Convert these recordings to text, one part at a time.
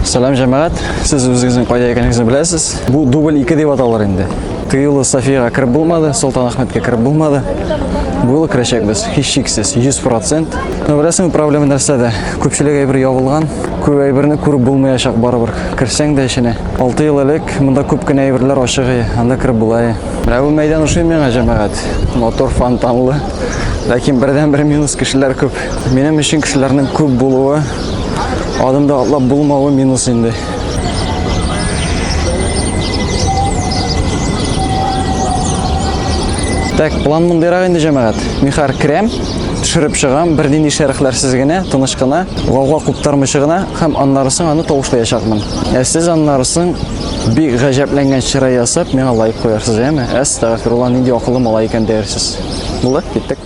Сәлам җәмәгать, сез үзегезнең кайда икәнегезне беләсез. Бу дубль 2 дип аталар инде. Тыюлы Софиягә кереп булмады, Солтан Ахмәткә кереп булмады. Бу юлы керәчәкбез, һичшиксез, 100%. Ну, беләсең, проблема нәрсәдә? Күпчелек әйбер ябылган. Күп әйберне күреп булмаячак барыбер. Керсәң дә эченә. 6 ел элек монда күп кенә әйберләр ачык иде. Анда кереп була иде. Менә бу мәйдан ошый миңа, җәмәгать. Мотор фонтанлы. Ләкин бердән бер минус кешеләр күп. Минем өчен кешеләрнең күп булуы, адымда атлап булмавы минус инде. Так, план мондыйрак инде, җәмәгать. Михар крем. Төшереп чыгам, бернинди шәрехләрсез генә, тыныч кына, гауга куптармыйча гына һәм аннары соң аны тавышлаячакмын. Ә сез аннары соң бик гаҗәпләнгән чырай ясап, миңа лайк куярсыз, яме? Әстәгфирулла, нинди акыллы малай икән диярсез. Булды, киттек.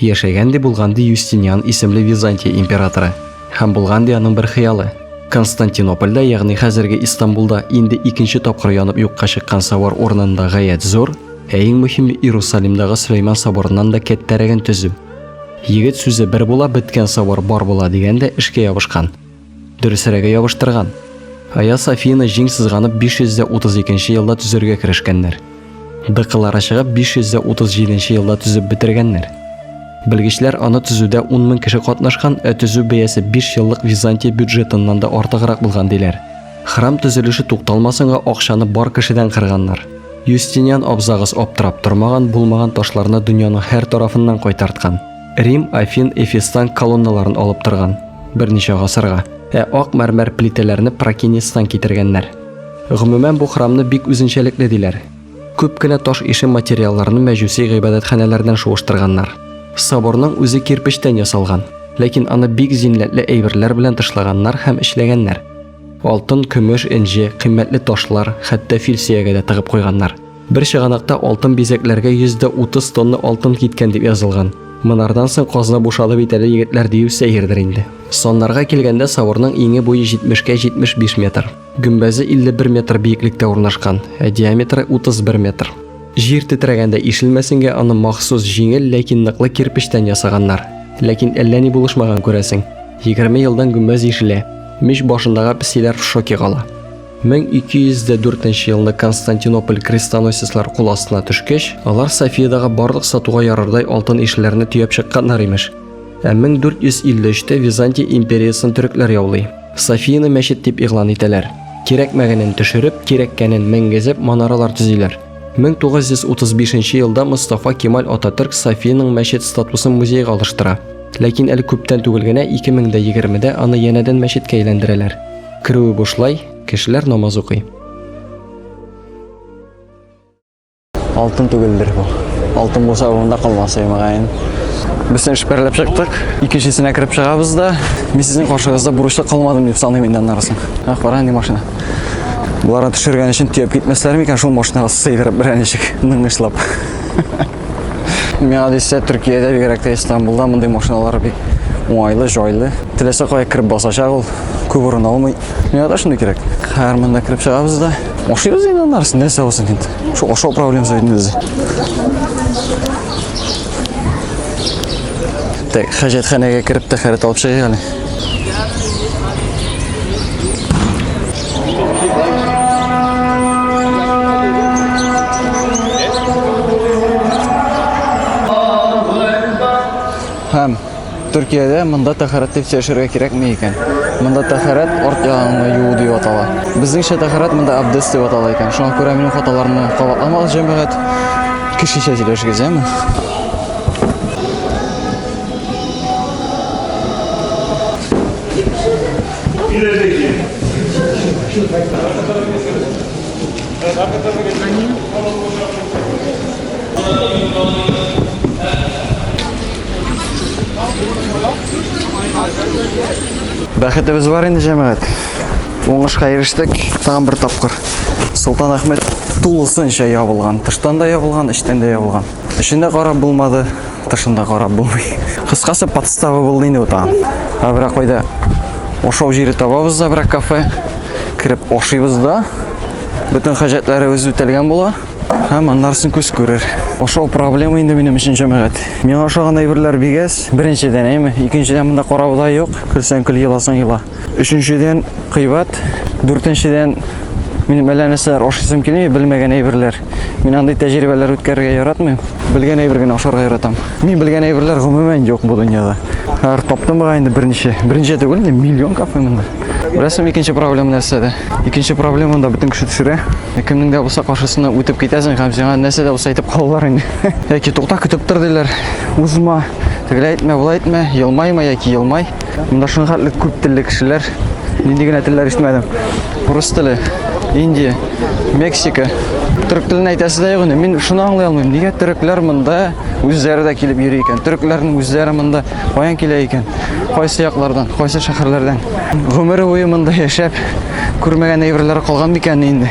Яшәгән дә булган ди Юстиниан исемле Византия императоры. Һәм булган ди аның бер хыялы. Константинопольдә, ягъни хәзерге Истанбулда инде икенче тапкыр янып юкка чыккан савар урынында гаять зур, ә иң мөһиме Иерусалимдагы Сөләйман соборыннан да кәттәрәген төзү. Егет сүзе бер була, беткән савар бар була дигән дә эшкә ябышкан. Дөресрәге ябыштырган. Айя Софияны җиң сызганып 532 нче елда төзергә керешкәннәр. Дыкылары чыгып 537 нче елда төзеп бетергәннәр. Белгечләр аны төзүдә 10 мең кеше катнашкан, ә төзү бәясе 5 еллык Византия бюджетыннан да артыграк булган диләр. Храм төзелеше тукталмасынга акчаны бар кешедән кырганнар. Юстиниан абзагыз аптырап тормаган, булмаган ташларны дөньяның һәр тарафыннан кайтарткан. Рим, Афин, Эфестан колонналарын алып торган, берничә гасырга. Ә ак мәрмәр плитәләрне Прокинестан китергәннәр. Гомумән, бу храмны бик үзенчәлекле диләр. Күп кенә таш ише материалларны мәҗүси гыйбадәтханәләрдән шуыштырганнар. Соборның үзе кирпечтән ясалган, ләкин аны бик зиннәтле әйберләр белән тышлаганнар һәм эшләгәннәр. Алтын, көмеш, энҗе, кыйммәтле ташлар, хәтта фил сөяге дә тыгып куйганнар. Бер чыганакта алтын бизәкләргә 130 тонна алтын киткән дип язылган. Монардан соң казна бушады бит әле егетләр дию сәердер инде. Саннарга килгәндә Савырның иңе буе 70-кә 75 метр, гөмбәзе 51 метр биеклектә урнашкан, ә диаметры 31 метр. Җир тетрәгәндә ишелмәсенгә аны махсус җиңел, ләкин ныклы кирпечтән ясаганнар. Ләкин әллә ни булышмаган күрәсең. Егерме елдан гөмбәз ишелә. Мич башындагы песиләр в шоке кала. 1204 елны Константинополь крестоносецлар кул астына төшкәч, алар Софиядагы барлык сатуга ярардай алтын ишләрне төяп чыкканнар имеш. Ә 1453-тә Византия империясын төрекләр яулый. Софияны мәчет дип игълан итәләр. Кирәкмәгәнен төшереп, кирәккәнен менгезеп манаралар төзиләр. 1935 елда Мостафа Кемаль Ататөрк Софиянең мәчет статусын музейга алыштыра. Ләкин әле күптән түгел генә 2020-дә аны янәдән мәчеткә әйләндерәләр. Керүе бушлай, кешеләр намаз укый. Алтын түгелдер бу. Алтын булса монда калмас иде мөгаен. Без эш берләп чыктык. Икенчесенә кереп чыгабыз да, мин сезнең каршыгызда бурычлы калмадым дип саныйм инде аннан соң. Ах, кара инде машина. Буларны төшергән өчен төяп китмәсләр микән шул машинага сыйдырып берәр ничек ныгышлап. Миңа дисә, Төркиядә бигрәк тә Истанбулда мондый машиналар бик уңайлы, җайлы. Теләсә кая кереп басачак ул, күп урын алмый. Миңа да шундый кирәк. Хәзер монда кереп чыгабыз да. Ашыйбыз инде аннарысын, нәрсә булсын инде. Шул ашау проблемасы бит инде бездә. Так, хәҗәтханәгә кереп тәхәрәт алып чыгыйк әле. Һәм Төркиядә монда тәхәрәт дип сөйләшергә кирәкми икән. Монда тәхәрәт арт ягыңны юу дип атала. Безнеңчә тәхәрәт монда абдес дип атала икән. Шуңа күрә минем хаталарны кабатламагыз, җәмәгать. Кешечә сөйләшегез, яме? Бәхетебез бар инде, җәмәгать. Уңышка ирештек, тагын бер тапкыр. Солтан Ахмет тулысынча ябылган. Тыштан да ябылган, эчтән дә ябылган. Эчендә карап булмады, тышында карап булмый. Кыскасы подстава булды инде бу тагын. Ә берәк кайда ашау җире табабыз да берәк кафе. Кереп ашыйбыз да. Бөтен хаҗәтләребез үтәлгән була. Һәм аннарсын күз күрер. Ашау проблема инде минем өчен җәмәгать. Миңа ашаган әйберләр бигәс, беренчедән әйме, икенчедән монда карау да юк. Көлсәң көл, еласаң ела. Өченчедән, кыйбат. Дүртенчедән, минем әллә нәрсәләр ашыйсым килми, белмәгән әйберләр. Мин андый тәҗрибәләр үткәрергә яратмыйм. Белгән әйбер генә ашарга яратам. Мин белгән әйберләр гомумән юк бу дөньяда. Хәр таптым га инде берничә. Берничә түгел, инде миллион кафе монда. Беләсең, икенче проблема нәрсәдә? Икенче проблема монда бөтен кеше төшерә. Ә кемнең дә булса каршысына үтеп китәсең һәм сиңа нәрсә дә булса әйтеп калалар инде. Яки тукта көтеп тор диләр. Узма. Тегеләй әйтмә, болай әйтмә, елмайма яки елмай. Монда шуның хәтле күп телле кешеләр. Нинди генә телләр ишетмәдем. Урыс теле, Индия, Мексика. Төрек телен әйтәсе дә юк Мин шуны аңлый алмыйм. Нигә төрекләр монда үзләре дә килеп йөри икән? Төрекләрнең үзләре монда каян килә икән? Кайсы яклардан, кайсы шәһәрләрдән? Гомере буе монда яшәп, күрмәгән әйберләре калган микән инде?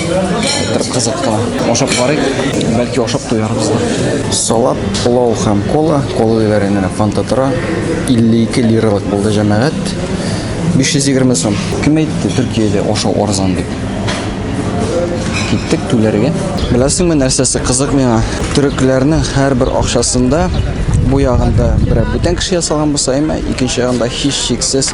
Бер кызыкка ашап барыйк, бәлки ашап туярбыз да. Салат, пылау һәм кола, кола диләр инде фанта тора. 52 лиралык булды җәмәгать. 520 сум. Кем әйтте Төркиядә ашау арзан дип? Киттек түләргә. Беләсеңме нәрсәсе кызык миңа? Төрекләрнең һәрбер акчасында бу ягында берәр бүтән кеше ясалган булса, әмма икенче ягында һичшиксез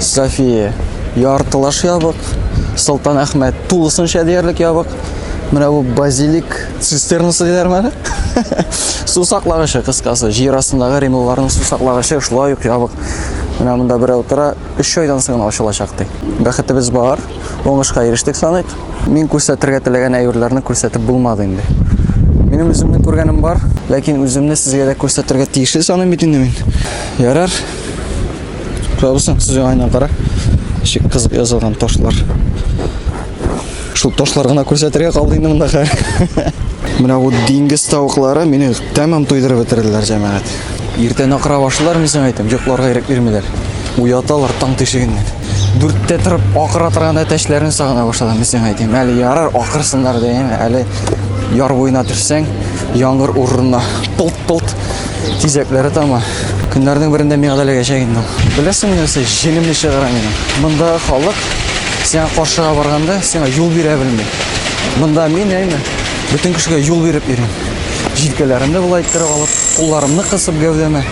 София, яртылаш ябык. Солтан Әхмәт, тулысынча диярлек ябык. Менә бу базилик цистернасы диләрме әле? Су саклагычы кыскасы, җир астындагы римлыларның су саклагычы шулай ук ябык. Менә монда берәү тора, 3 айдан соң гына ачылачак ди. Бәхетебез бар, уңышка ирештек саныйк. Мин күрсәтергә теләгән әйберләрне күрсәтеп булмады инде. Минем үземнең күргәнем бар, ләкин үземне сезгә дә күрсәтергә тиешле саныйм бит инде мин. Ярар. Кабысың, сүзе айнан кара. Шик кызып язылган ташлар. Шул ташлар гына күрсәтергә калды инде монда хәл. Менә бу диңгез тавыклары мине тәмам туйдырып бетерделәр, җәмәгать. Иртән акыра башлар, мин сиңа әйтәм, йокларга ирек бирмиләр. Уяталар таң тишегеннән. Дүрттә торып акыра торганда тәшләрен сагына башладым, мин сиңа әйтәм. Әле ярар акырсыннар дигән, әле яр буена төшсәң, яңгыр урынына пылт Полт тизәкләре тама. Көннәрнең берендә миңа да эләгәчәк инде. Беләсеңме нәрсә, җенемне чыгара минем. Монда халык сиңа каршыга барганда сиңа юл бирә белми. Монда мин әйме, бөтен кешегә юл биреп йөрим. Җилкәләремне болай иттереп алып, кулларымны кысып гәүдәмә.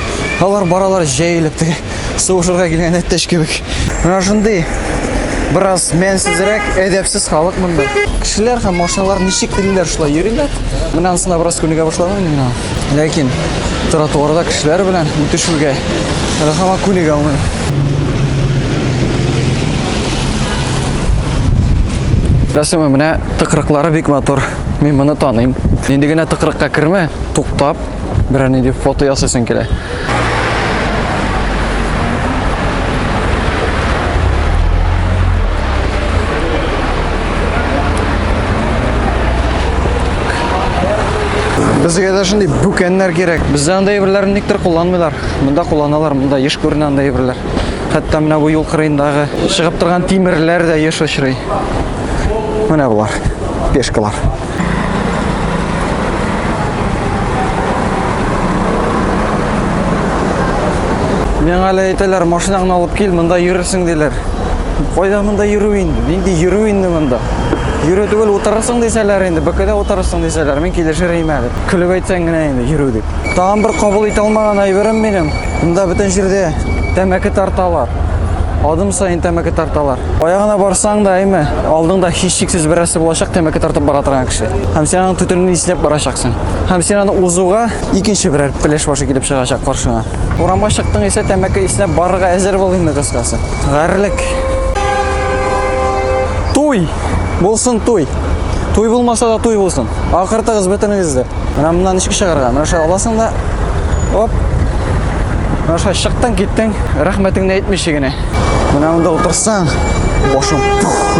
Алар баралар җәелеп теге сугышырга килгән әттәш кебек. Менә шундый бераз мәнсезрәк, әдәпсез халык монда. Кешеләр һәм машиналар ничек телиләр, шулай йөриләр. Менә анысына бераз күнегә башладым мин. Ләкин тротуарда кешеләр белән үтешүгә рәхәмә күнегә алмыйм. Рәсеме менә тыкрыклары бик матур. Мин моны таныйм. Инде генә тыкрыкка кермә, туктап, Берәр нинди фото ясыйсың килә. Безгә дә шундый бүкәннәр кирәк. Бездә андай әйберләрне никтер кулланмыйлар. Монда кулланалар, монда еш күренә андай әйберләр. Хәтта менә бу юл кырыендагы чыгып торган тимерләр дә еш очрый. Менә болар, пешкалар. Миңа әле әйтәләр, машинаңны алып кил, монда йөрерсең диләр. Кайда монда йөрү инде? Нинди йөрү инде монда? Йөрү түгел, утырырсың дисәләр инде, бөкедә утырырсың дисәләр, мин килешер идем әле. Көлеп әйтсәң генә инде йөрү дип. Тагын бер кабул итә алмаган әйберем минем. Монда бөтен җирдә тәмәке тарталар. Адым саен тәмәке тарталар. Кая гына барсаң да, әйме, алдыңда һичшиксез берәрсе булачак тәмәке тартып бара торган кеше. Һәм син аның түтелен исләп барачаксың. Һәм син аны узуга икенче берәр пеләш башы килеп чыгачак каршына. Урамга чыктың исә тәмәке исләп барырга әзер бул инде кыскасы. Гарлек. Туй! Булсын туй! Туй булмаса да туй булсын. Акыртыгыз бөтенегезде. Менә моннан ничек чыгарга? Менә шулай аласың да. Оп. Менә шулай чыктың, киттең. Рәхмәтеңне әйтмичә генә. Менә монда утырсаң, башың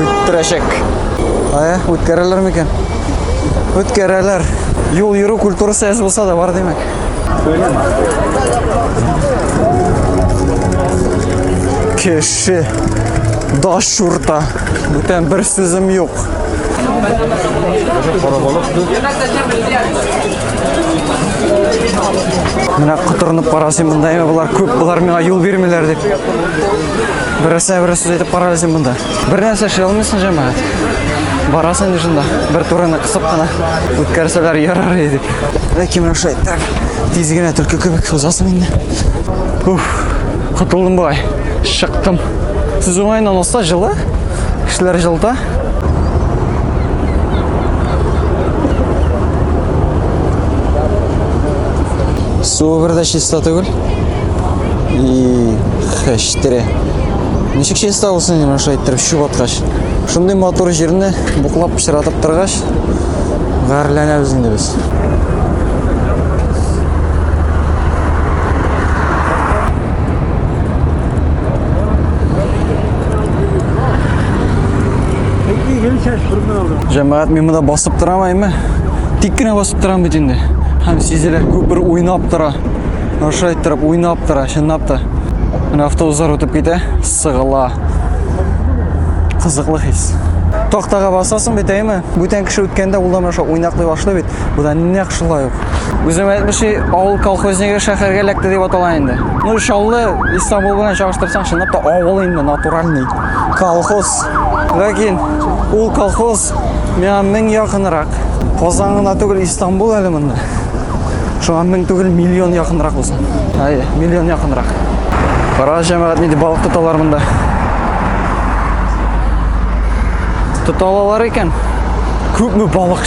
үттерәчәк. Ая, үткәрәләр микән? Үткәрәләр. Юл йөрү культурасы әз булса да бар димәк. Кеше даш шурта. Бүтән бер сүзем юк. Карабалык. Менә котырынып карасым монда, әмма болар күп, болар миңа юл бирмиләр дип. Берәрсенә берәр сүз әйтеп караласың монда. Бер нәрсә эшли алмыйсың, җәмәгать. Барасың инде шунда, бер турыны кысып кына үткәрсәләр ярар иде. Ләкин менә шулай так, тиз генә төлке кебек узасың инде. Уф, котылдым болай. Чыктым. Сез уңайыннан алса жылы, кешеләр жылыта. Суы бер дә чиста түгел. И хәштире. Ничек чиста булсын инде шулай иттереп чүп аткач. Шундый матур җирне буклап пычратып торгач, гарьләнәбез инде без. Җәмәгать, мин монда басып торам әйме? Тик кенә басып торам бит инде. Һәм сизелә, күпер уйнап тора. Аша иттереп уйнап тора, чынлап та. Менә автобуслар үтеп китә, сыгыла. Кызыклы хис. Тактага басасың бит әйме? Бүтән кеше үткәндә ул да менә шулай уйнаклый башлый бит. Бу да нәкъ шулай ук. Үзем әйтмеши, авыл колхозниге шәһәргә эләкте дип атала инде. Ну, Чаллы Истанбул белән чагыштырсаң, чынлап та авыл инде натуральный. Колхоз. Ләкин ул колхоз миңа мең якынрак. Казан гына түгел, Истанбул әле монда. Шуңа мең түгел, миллион якынрак булсын. Әй, миллион якынрак. Кара җәмәгать нинди балык тоталар монда. Тоталалар икән. Күпме балык